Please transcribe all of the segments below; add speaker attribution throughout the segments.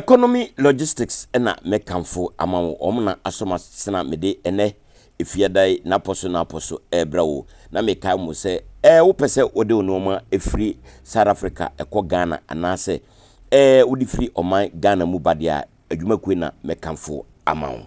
Speaker 1: Economy Logistics na mɛkamfo ama wo. Wɔn na asɔ m'asena mede ɛnɛ efiadae n'apɔ so n'apɔ so ɛrebrɛ wo. Na mekae mo sɛ, ɛɛ wopɛ sɛ wode wo nneɛma firi South Africa kɔ Ghana anaasɛ ɛɛ wode firi ɔman Ghana mu ba deɛ a, adwumakuo na mɛkamfo ama wo.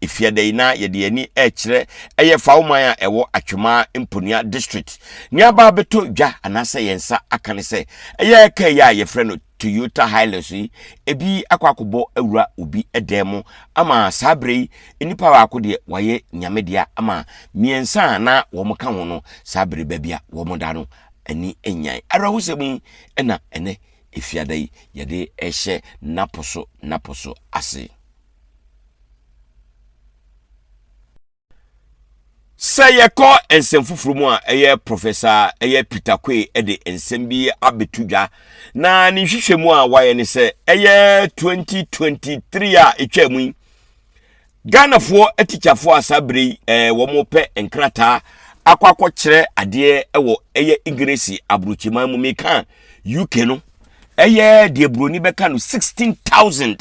Speaker 1: Efiada yi na yɛde yɛn ani rekyerɛ ɛyɛ Fawman a ɛwɔ Atwemaa Mponua District. Nea aba abɛtɔ dwa anaasɛ yɛn nsa aka ne sɛ ɛyɛ kaa yi a yɛfrɛ no Toyota Hilux yi, ebi akɔ akɔbɔ awura obi dan mu ama saa berɛ yi nnipa baako deɛ wayɛ nyame dea ama mmiɛnsa a na wɔn ka ho no saa bere baabi a wɔn da no ani nyan. Awerɛhosɛm yi na ɛnɛ efiada yi yɛde ɛhyɛ napo so napo so ase. sɛ yɛkɔ nsɛm foforɔ mu a ɛyɛ prɔfɛsa ɛyɛ peter koe de nsɛm bi abɛto dwa na ne nhwehwɛ mu a wayɛ ne sɛ ɛyɛ 2023 a ɛtwa mu yi ghanafoɔ atikyafoɔ a saa berɛ yi eh, wɔpɛ nkrataa akɔ akɔkyerɛ adeɛ wɔ ɛyɛ english aburokyiman mu meka uk no ɛyɛ deɛ buroni bɛka no 16000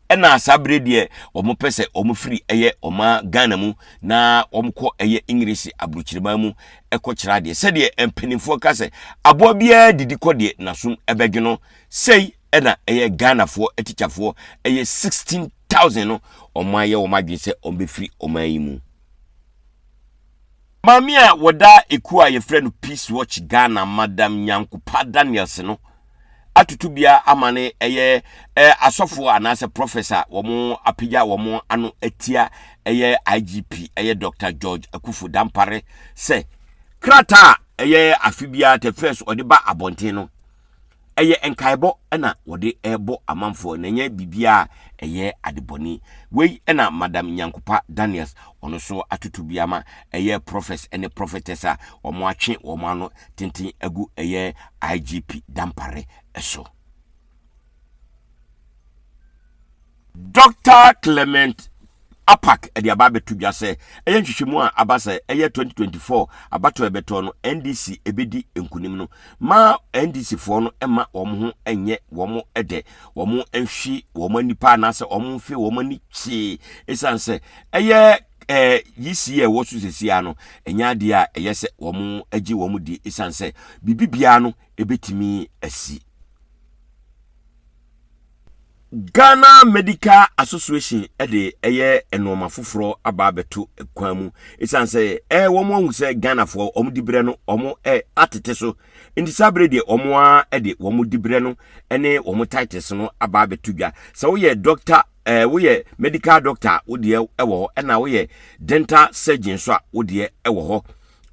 Speaker 1: Ɛna saa bere deɛ wɔn pɛ sɛ wɔn firi ɛyɛ wɔn Ghana mu na wɔn kɔ ɛyɛ English aburukyiriman mu ɛkɔ kyerɛ adeɛ sɛdeɛ mpanimfoɔ ka sɛ aboa biara didi kɔ deɛ n'asom ɛbɛdwe no sɛi ɛna ɛyɛ Ghanafoɔ atikyafoɔ ɛyɛ sixteen thousand no wɔn ayɛ wɔn adwene sɛ wɔn bɛfiri wɔn yi mu. Maame a wɔda ekuo a yɛfrɛ no Peace Watch Ghana Madam Nyankopa Daniels no atoto bia ama no ɛyɛ eh, asɔfoɔ anaasɛ prɔfɛs a wɔn apagya wɔn ano atia ɛyɛ IGP ɛyɛ Dr. George Akufo Dampare sɛ krataa a ɛyɛ afe biara te fɛs ɔde ba abɔnten no ɛyɛ nkaebɔ na wɔde rebɔ amanfoɔ na ɛnyɛ biribiara a ɛyɛ adebɔne. Wei na Madam Nyankopa Daniels, ɔno nso atoto bi ama ɛyɛ Prophets ne Prophetess a wɔatwe wɔn ano tenten agu ɛyɛ IGP Dampare so. Doctor Clement Apack de aba abɛto dwa sɛ ɛyɛ nhwehwɛmu a aba sɛ ɛyɛ 2024 abatoɔ a ɛbɛtɔ no NDC ɛbɛdi nkunim no ma NDC foɔ no ɛma wɔn ho ɛnyɛ wɔn ɛdɛ wɔn nhwi wɔn nipa anaasɛ wɔn mfe wɔn ani kyee ɛsiane sɛ ɛyɛ ɛɛ yisi a ɛwɔ so sesia no ɛnyɛ adeɛ a ɛyɛ sɛ wɔn agye wɔn di ɛsiane sɛ biribi biara no ɛbɛtumi asi Ghana Medical Association de ɛyɛ nnoɔma foforɔ aba abɛto kwan mu ɛsiane sɛ ɛɛ wɔn ahu sɛ Ghanafoɔ wɔn dibrɛ no wɔn ɛ atete so nti saa bere deɛ wɔn a de wɔn dibrɛ no ne wɔn titles no aba abɛto dwa sɛ woyɛ doctor ɛɛ woyɛ medical doctor wodeɛ ɛwɔ hɔ ɛna woyɛ dental surgeon nso a wodeɛ ɛwɔ hɔ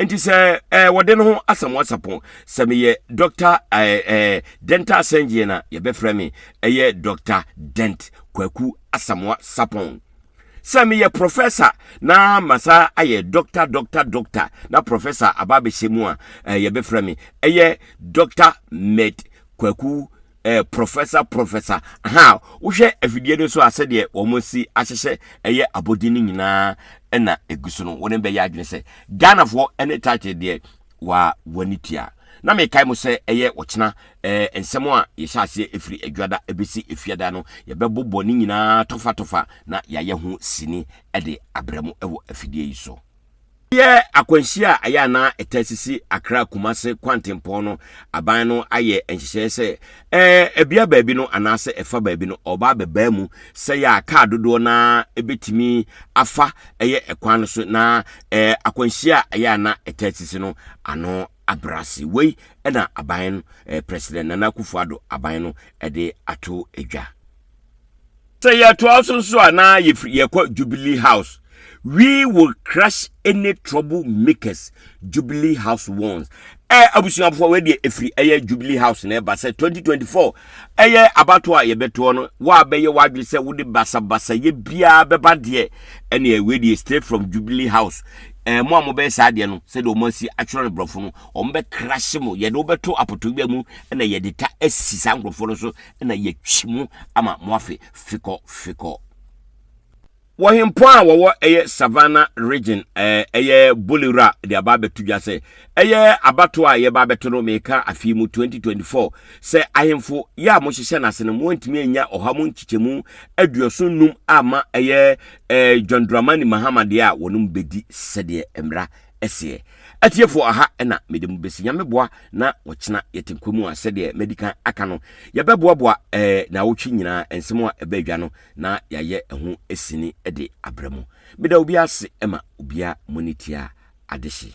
Speaker 1: nti sɛ ɛɛ eh, wɔde no ho asɛm asapɔn sɛ meyɛ dɔkta ɛɛ eh, ɛɛ eh, dental surgeon na yɛbɛfrɛ me ɛyɛ dɔkta dent kwaku asamoa sapɔn sɛ meyɛ professor na masa ayɛ dɔkta dɔkta dɔkta na professor aba abɛhyɛ mu a ɛɛ yɛbɛfrɛ me ɛyɛ dɔkta med kwaku Eh professor professor aha wohwɛ afidie no so a sɛdeɛ wɔn si ahyehyɛ ɛyɛ abɔdin no nyinaa ɛna egu so no wɔn bɛyɛ adwene sɛ Ghanafoɔ ɛne title deɛ wa wani tua na mekae mo sɛ ɛyɛ ɔkyena eh nsɛm a yɛhyɛ aseɛ efiri adwada ɛbɛsi efiada no yɛbɛbobɔ ne nyinaa tofa tofa na yɛayɛ ho sini ɛde abrɛ mo ɛwɔ afidie yi so. Ɛyɛ akwanhyia a ɛyɛ a na ɛtaa sisi Accra Kumase kwantempɔn no. Aban no ayɛ nhyehyɛe sɛ ɛbea baabi no anaasɛ ɛfa baabi no ɔba abɛbaa mu sɛ yɛ a kaa dodoɔ no ara ɛbɛtumi afa ɛyɛ ɛkwan no so na akwanhyia a ɛyɛ a na ɛtaa sisi no ano abrɛ ase. Wei na aban no, President Nana Akufo-Addo aban no de ato dwa. Sɛ yɛtoa so nso a na yɛfiri yɛkɔ Jubilee House. We will crush any trouble makers Jubilee House warns. Ɛ abusuafoɔ wei deɛ ɛfiri ɛyɛ Jubilee House na ɛba sɛ 2024 ɛyɛ abatoɔ a yɛbɛtoɔ no wo a bɛyɛ w'adwene sɛ wode basabasayɛ biara bɛba deɛ ɛneɛ wei deɛ straight from Jubilee House ɛɛ eh, mo a mobɛyɛ saa adeɛ no sɛdeɛ wɔn asi atwerɛ no borɔfo no wɔn bɛ krahye mo yɛde wobɛto apotobea mu na yɛde ta asi saa nkurɔfoɔ no so na yɛatwi mu ama moafe fekɔ fekɔ. Wɔ hempɔn a wɔwɔ ɛyɛ Savannah region ɛɛ ɛyɛ Bolewura de aba abɛto dwa sɛ ɛyɛ abatoɔ a yɛba abɛto no meka afei mu 2024 sɛ ahemfo yɛ a mohyehyɛ no ase no moantumi anya ɔha mu nkyekyɛmu aduɔson num amma ɛyɛ ɛɛ John Dramani Mahama deɛ a wɔnom bɛdi sɛdeɛ mmara seɛ. Atiefoɔ aha na mede mo bɛsi. Nyame boa na ɔkyena yɛte nkwa mu a sɛdeɛ madi kan aka no, yɛbɛboaboa ɛɛ eh, naawɔtwe nyinaa nsɛm a ɛbɛ adwa no na yɛayɛ ɛho sini de abrɛ mo. Meda obiara ase ma obiara mo ani tia adehye.